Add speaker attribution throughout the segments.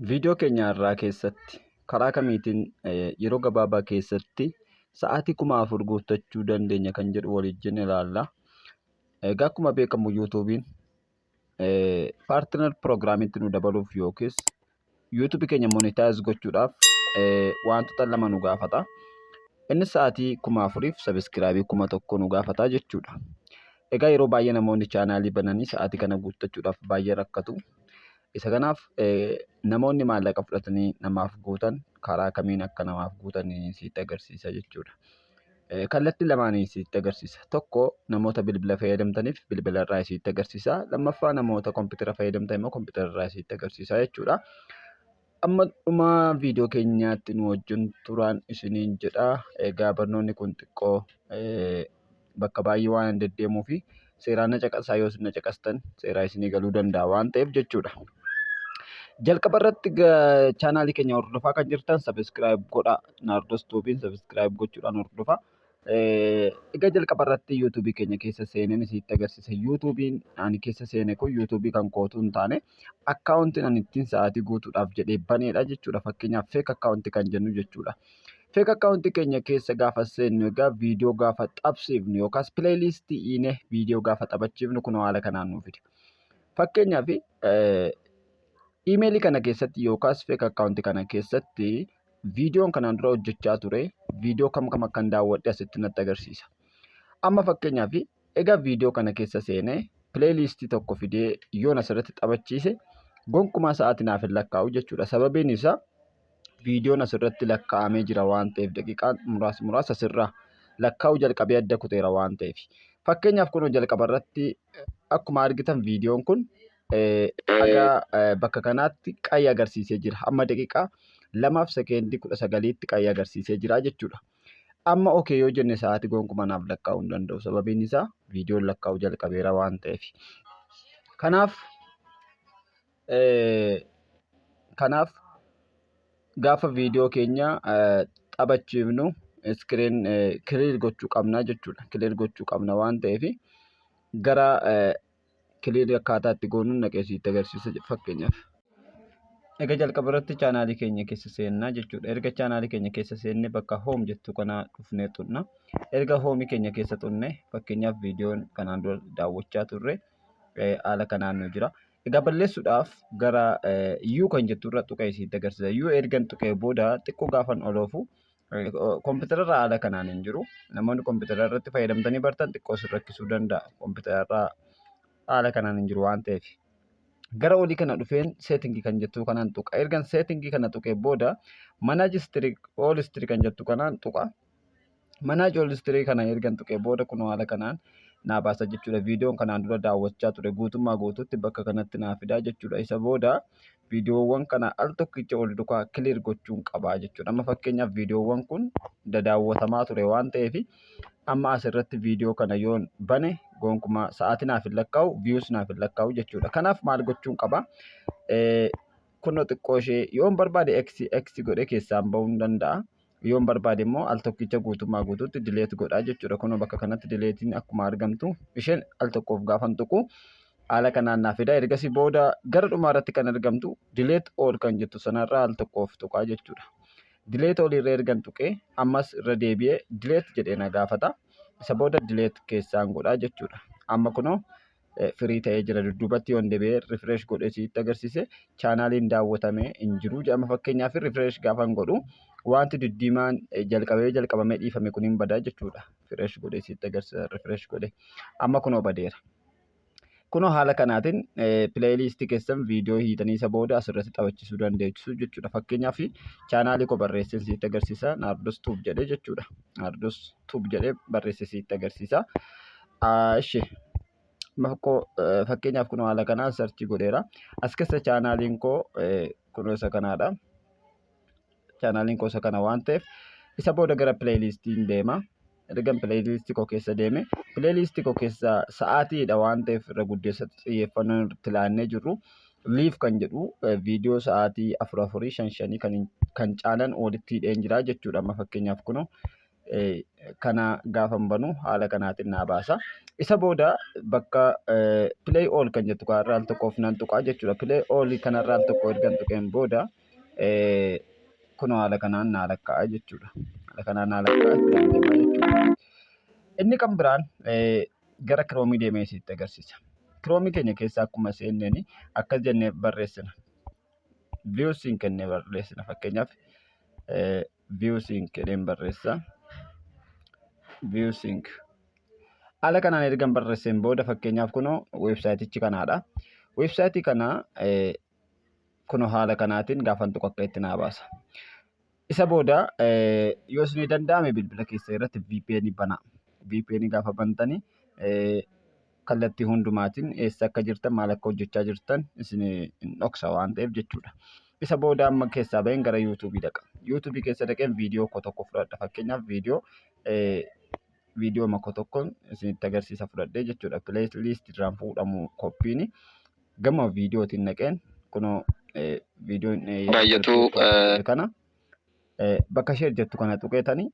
Speaker 1: Viidiyoo keenya irraa keessatti karaa kamiitiin yeroo gabaabaa keessatti sa'aatii kuma afur guuttachuu dandeenya kan jedhu waliin ilaalla. Egaa akkuma beekamu yuutuubiin paartinar piroogiraamiitti nu dabaluuf yookiis yuutuubii keenya monitaayiz gochuudhaaf wantoota lama nu gaafata. Innis sa'aatii kuma afuriif sabiskiraabii kuma tokko nu gaafata jechuudha. Egaa yeroo baay'ee namoonni chaanaalii bananii sa'aatii kana guuttachuudhaaf baay'ee rakkatu. Isa kanaaf namoonni maallaqa fudhatanii namaaf guutan karaa kamiin akka namaaf guutan sitti agarsiisa jechuudha. Kallattii lamaanii sitti agarsiisa. Tokko namoota bilbila fayyadamtaniif bilbila irraa sitti agarsiisa. Lammaffaa namoota kompiitara fayyadamtan immoo kompiitara irraa sitti agarsiisa jechuudha. Amma dhumaa viidiyoo keenyaatti nu wajjin turaan isiniin jedha. Egaa barnoonni kun xiqqoo bakka baay'ee waan deddeemuu fi seeraan na caqasaa yoo na caqastan seeraa isinii galuu danda'a waan ta'eef jechuudha. Jalqaba irratti chaanaalii keenya hordofaa kan jirtan sabiskiraayib godhaa. Naardos Tuubiin sabiskiraayib gochuudhaan hordofaa. Egaa jalqaba irratti yuutuubii keenya keessa seeneen isinitti agarsiisa. Yuutuubiin ani keessa seene kun yuutuubii kan kootu hin taane akkaawuntiin ani ittiin sa'aatii guutuudhaaf jedhee baneedha jechuudha. Fakkeenyaaf feek akkaawuntii kan jennu jechuudha. Feek akkaawuntii keenya keessa gaafa seennu egaa viidiyoo gaafa xabsiifnu yookaas pileeyiliistii iine viidiyoo gaafa xabachiifnu kunoo haala kanaan nuuf fide. Fakkeenyaaf iimeelii kana keessatti yookaas feek akkaawuntii kana keessatti viidiyoon kanaan dura hojjechaa ture viidiyoo kam kam akkan daawwadhe asitti natti agarsiisa. Amma fakkeenyaaf egaa viidiyoo kana keessa seenee pileeyiliistii tokko fidee yoon asirratti xabachiise gonkumaa sa'aatii naaf hin lakkaa'u jechuudha. Sababiin isaa viidiyoon asirratti lakkaa'amee jira waan ta'eef daqiiqaan muraas muraas asirraa lakkaa'uu jalqabee adda kuteera waan ta'eef. Fakkeenyaaf kun jalqaba irratti akkuma argitan viidiyoon kun haga bakka kanaatti qayya agarsiisee jira. Amma daqiiqaa lamaaf sekeendii kudha sagaliitti qayya agarsiisee jira jechuudha. Amma okee yoo jenne sa'aatii gonkumaa naaf lakkaa'uu hin danda'u. Sababiin isaa viidiyoon lakkaa'uu jalqabeera waan ta'eef. Kanaaf Kanaaf gaafa viidiyoo keenya taphachiifnu iskiriin kiliir gochuu qabna jechuudha. Kiliir gochuu qabna waan ta'eef gara kiliir akkaataa itti goonu naqee sitti agarsiisa jedhu fakkeenyaaf. Egaa jalqaba irratti chaanaalii keenya keessa seennaa jechuudha. Erga chaanaalii keenya keessa seenne bakka hoom jettu kana dhufnee xunna. Erga hoomii keenya keessa xunne fakkeenyaaf viidiyoon kanaan dura daawwachaa turre haala kanaan nu jira. Egaa balleessuudhaaf gara U kan jettu irra tuqee isiitti agarsiisa. U ergan tuqee booda xiqqoo gaafan ol oofu kompiitararra haala kanaan hin jiru. Namoonni kompiitara irratti fayyadamtanii bartan xiqqoo isin rakkisuu danda'a. Kompiitararra haala kanaan hin jiru waan ta'eef. Gara olii kana dhufeen seetingii kan jettu kanaan tuqa. Ergan seetingii kana tuqee booda manage streak all streak kan jettu kanaan tuqa. Mana joolistirii kana ergan tuqee booda kun haala kanaan naa baasa jechuudha. Viidiyoon kanaan dura daawwachaa ture guutummaa guutuutti bakka kanatti naa fidaa jechuudha. Isa booda viidiyoowwan kana al tokkicha ol dukaa kiliir gochuun qabaa jechuudha. Amma fakkeenyaaf viidiyoowwan kun dadaawwatamaa ture waan ta'eef amma asirratti viidiyoo kana yoon bane gonkumaa sa'aatii naaf hin lakkaa'u viyuus naaf hin lakkaa'u jechuudha. Kanaaf maal gochuun qaba? Kunoo xiqqoo ishee yoon barbaade x x godhee keessaan ba'uu ni danda'a. yoon barbaade immoo al tokkicha guutummaa guutuutti dileet godhaa jechuudha kunoo bakka kanatti dileetiin akkuma argamtu isheen al tokkoof gaafan tuqu haala kanaan naaf fida ergasii booda gara dhumaa irratti kan argamtu dileet ool kan jettu sanarraa al tokkoof tuqaa jechuudha dileet ool irra ergan tuqee ammas irra deebi'ee dileet jedhee na gaafata isa booda dileet keessaan godhaa jechuudha amma kunoo firii ta'ee jira dudduubatti yoon debi'ee rifresh godhee sitti agarsiise chaanaaliin daawwatamee hin jiru jedhama fakkeenyaaf rifresh gaafan godhu wanti diddiimaan jalqabee jalqabamee dhiifame kun hin badaa jechuudha firesh godhee sitti agarsiisa rifresh godhee amma kunoo badeera. Kunoo haala kanaatiin pileeyiliistii keessan viidiyoo hiitanii isa booda asirratti taphachiisuu dandeessisu jechuudha. Fakkeenyaaf chaanaalii koo barreessee sitti agarsiisa. Naardos Tuub jedhee jechuudha. Naardos Tuub jedhee barreessee sitti agarsiisa. Ashi. Fakkeenyaaf kun haala kanaan sarchii godheera. As keessa chaanaaliin koo kunoo isa kanaadha. Chaanaaliin koo isa kana waan ta'eef isa booda gara pileeyiliistiin deema. Ergan pileeyiliistii koo keessa deeme pileeyiliistii koo keessa sa'aatiidha waan ta'eef irra guddeessatti xiyyeeffannoo irratti laannee jirru. Liif kan jedhu viidiyoo sa'aatii afur afurii shan shanii kan caalan walitti hidheen jira jechuudha. Amma fakkeenyaaf kunoo kana gaafan banu haala kanaatiin naa baasa. Isa booda bakka play all kan jettu kan irraan tokkoof nan tuqaa jechuudha. Play all kan irraan tokko ergan tuqeen booda kun haala kanaan naa lakka'a jechuudha. Haala kanaan naa lakka'a jechuudha. Inni kan biraan gara kiroomii deemee isinitti agarsiisa. Kiroomii keenya keessa akkuma seenneen akkas jennee barreessina. Viyuus siin kennee barreessina fakkeenyaaf. view sync jedheen barreessa. View sync. Haala kanaan ergan barreesseen booda fakkeenyaaf kunoo weebsaayitichi kanaadha. Weebsaayitii kana kunoo haala kanaatiin gaafan tuqu akka itti naa baasa. Isa booda yoo isin danda'ame bilbila keessan irratti VPN banaa. VPN gaafa bantanii kallattii hundumaatiin eessa akka jirtan maal akka hojjechaa jirtan isin hin dhoksa waan ta'eef jechuudha. Isa booda amma keessaa baheen gara yuutuubii dhaqa. Yuutuubii keessa dhaqeen viidiyoo koo tokko fudhadha fakkeenyaaf viidiyoo viidiyoo makoo tokkoon isinitti agarsiisa fudhadhee jechuudha. Pilees liist irraan fuudhamu koppiin gama viidiyootiin dhaqeen kunoo viidiyoon baay'atuu kana bakka share jettu kana tuqeetani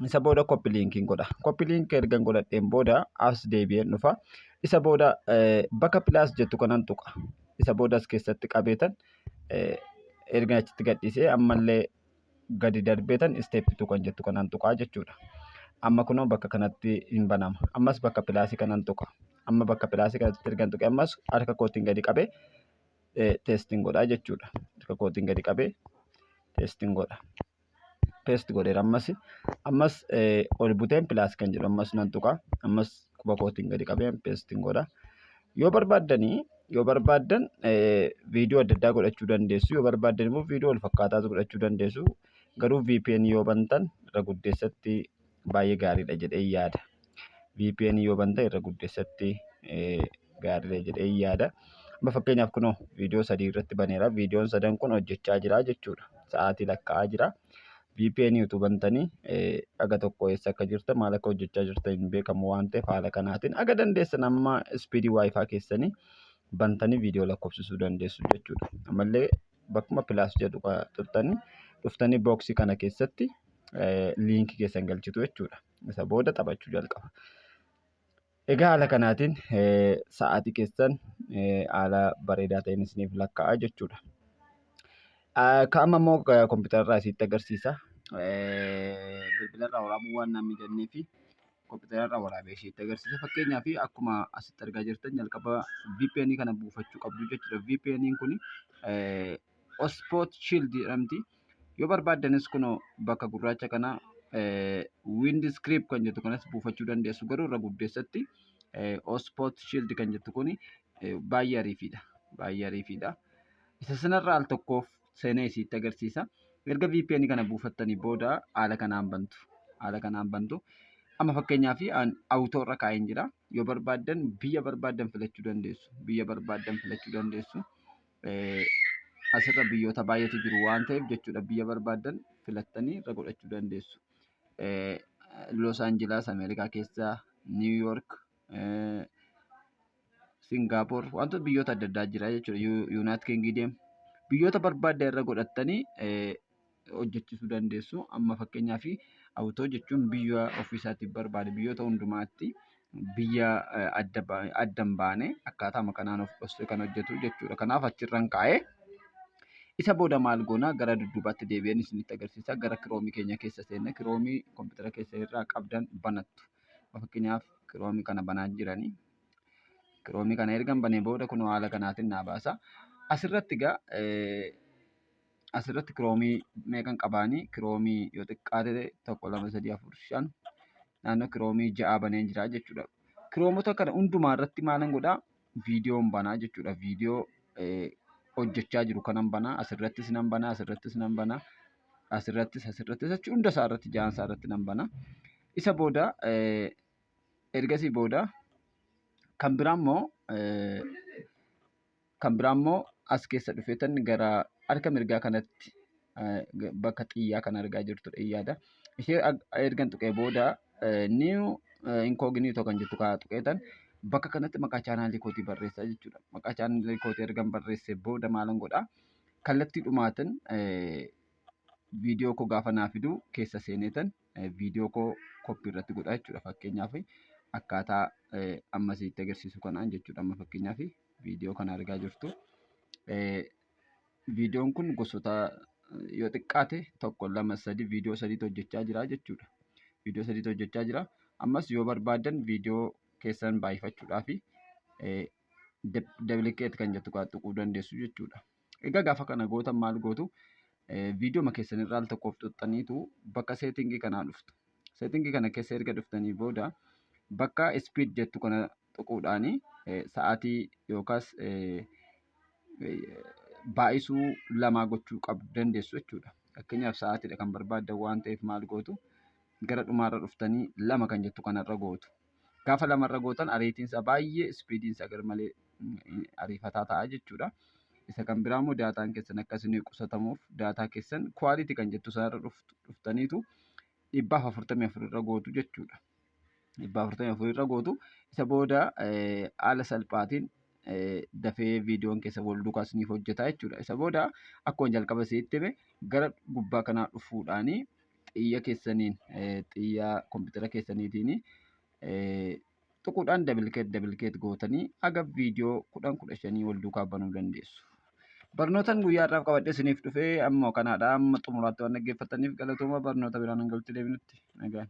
Speaker 1: isa booda copy link hin godha copy link ergan godhadheen booda as deebi'een dhufa isa booda bakka plus jettu kanan tuqa isa booda as keessatti qabeetan erga achitti gadhiisee ammallee gadi darbeetan step tuqan jettu kanan tuqaa jechuudha amma kunoo bakka kanatti hin banama ammas bakka pilaasii kanan tuqa amma bakka pilaasii kanatti ergan tuqe ammas harka kootiin gadi qabee testing godhaa jechuudha. Akka kootiin gadi qabee testing godha. Test godheera ammas ammas ol buteen pilaas kan jedhu ammas nan tuqa ammas quba kootiin gadi qabee testing godha. Yoo barbaaddanii yoo barbaaddan viidiyoo adda addaa godhachuu dandeessu yoo barbaaddan immoo viidiyoo wal fakkaataas godhachuu dandeessu garuu VPN yoo bantan irra guddeessatti baay'ee gaariidha jedheen yaada. VPN yoo banta irra guddessatti gaariidha jedheen yaada. Amma fakkeenyaaf kunoo viidiyoo sadii irratti baneera. Viidiyoon sadan kun hojjechaa jira jechuudha. Sa'aatii lakkaa'aa jira. VPN utuu bantanii aga tokko eessa akka jirtan maal akka hojjechaa jirtan hin beekamu waan ta'eef haala kanaatiin aga dandeessan amma ispiidii waayifaa keessanii bantanii viidiyoo lakkoofsisuu dandeessu jechuudha. Ammallee bakkuma plus jedhu tuqxani dhuftanii box kana keessatti link keessan galchitu jechuudha. Isa booda taphachuu jalqaba. Egaa haala kanaatiin sa'aatii keessan haala bareedaa ta'een isiniif lakka'a jechuudha. Ka'ama immoo kompiitararraa isitti agarsiisa. Bilbilarraa waraabuu waan naan mijanneefi. Kompiitara irraa waraabee isheetti agarsiisa. Fakkeenyaaf akkuma asitti argaa jirtan jalqaba VPN kana buufachuu qabdu jechuudha. VPN kun Ospoot Shield jedhamti. Yoo barbaaddanis kun bakka gurraacha kana Wind Script kan jettu kanas buufachuu dandeessu. Garuu irra guddeessatti Ospoot Shield kan jettu kun baay'ee ariifiidha. Baay'ee ariifiidha. Isa sanarraa al tokkoof seenee isiitti agarsiisa. Erga VPN kana buufattanii booda haala kanaan bantu. Haala kanaan bantu. Amma fakkeenyaaf an awutoo irra kaa'een jira. Yoo barbaaddan biyya barbaaddan filachuu dandeessu. Biyya barbaaddan filachuu dandeessu. Eh, Asirra biyyoota baay'eetu jiru waan ta'eef jechuudha biyya barbaaddan filattanii irra godhachuu dandeessu. Eh, Los Angeles Ameerikaa keessa, New York, eh, Singaapoor wantoota biyyoota adda addaa jira jechuudha. Yuunaayit Kingideem biyyoota barbaaddan irra godhattanii hojjechiisuu dandeessu. Amma fakkeenyaaf awutoo jechuun biyya ofiisaatiif barbaade biyyoota hundumaatti biyya adda hin baane akkaataama kanaan of dhoksee kan hojjetu jechuudha. Kanaaf achirran kaa'ee isa booda maal goona gara dudduubaatti deebi'een isinitti agarsiisa. Gara kiroomii keenya keessa seenne kiroomii kompiitara keessa irraa qabdan banattu. Fakkeenyaaf kiroomii kana banaa jiranii. Kiroomii kana erga hin banee booda kunoo haala kanaatiin naa baasa. Asirratti egaa asirratti kiroomii meeqan qabaanii kiroomii yoo xiqqaate tokko lama sadii afur shan naannoo kiroomii ja'a baneen jira jechuudha. Kiroomota kana hundumaa irratti maalan godhaa viidiyoon banaa jechuudha. Viidiyoo hojjechaa jiru kanan banaa asirrattis nan banaa asirrattis nan banaa asirrattis asirrattis achi hunda isaa irratti ja'an isaa irratti nan banaa. Isa booda Ergasii booda kan biraa immoo kan biraa immoo as keessa dhufeetan gara harka mirgaa kanatti bakka xiyyaa kan argaa jirtu dha yaada. Ishee ergan tuqee booda new incognito kan jettu kaa tuqeetan bakka kanatti maqaa chaanaalii kootii barreessaa jechuudha. Maqaa chaanaalii kootii ergan barreessee booda maalan godhaa kallattii dhumaatin viidiyoo koo gaafa naa fiduu keessa seeneetan viidiyoo koo koppii irratti godha jechuudha. Fakkeenyaaf akkaataa amma isinitti agarsiisu kanaan jechuudha. Amma fakkeenyaaf viidiyoo kana argaa jirtu. Viidiyoon kun gosoota yoo xiqqaate tokko lama sadi viidiyoo sadiitu hojjechaa jira jechuudha. Viidiyoo sadiitu hojjechaa jira. Ammas yoo barbaadan viidiyoo keessan baay'ifachuudhaaf dablikeet kan jettu tuquu dandeessu jechuudha. Egaa gaafa kana gootan maal gootu? Viidiyoo ma keessan irraa al tokkoof xuxxaniitu bakka seetingii kanaa dhuftu. Seetingii kana keessa erga dhuftanii booda bakka speed jettu kana tuquudhaan sa'aatii yookaas baay'isuu lamaa gochuu qabdu dandeessu jechuudha. Fakkeenyaaf sa'aatiidha kan barbaaddan waan ta'eef maal gootu? Gara dhumaarra dhuftanii lama kan jettu kanarra gootu. Gaafa lamarra gootan ariitiinsa baay'ee ispiidiinsa garmalee ariifataa ta'a jechuudha. Isa kan biraa immoo daataan keessan akka isinii qusatamuuf daataa keessan quality kan jettu isaarra dhuftaniitu dhibbaaf afurtamii afur irra gootu jechuudha. Dhibbaaf afurtamii afur irra gootu isa booda haala salphaatiin dafee viidiyoon keessa wal duukaa isiniif hojjeta jechuudha. Isa booda akkuma jalqaba isinitti hime gara gubbaa kanaa dhufuudhaanii xiyya keessaniin xiyya kompiitara keessaniitiin tuquudhaan dabilkeet dabilkeet gootanii haga viidiyoo kudhan kudha shanii wal duukaa banuu dandeessu. Barnootaan guyyaa har'aaf qabadhee isiniif dhufee ammoo kanaadha amma xumuraatti waan dhaggeeffataniif galatooma barnoota biraan hanga walitti deebinutti nagaan.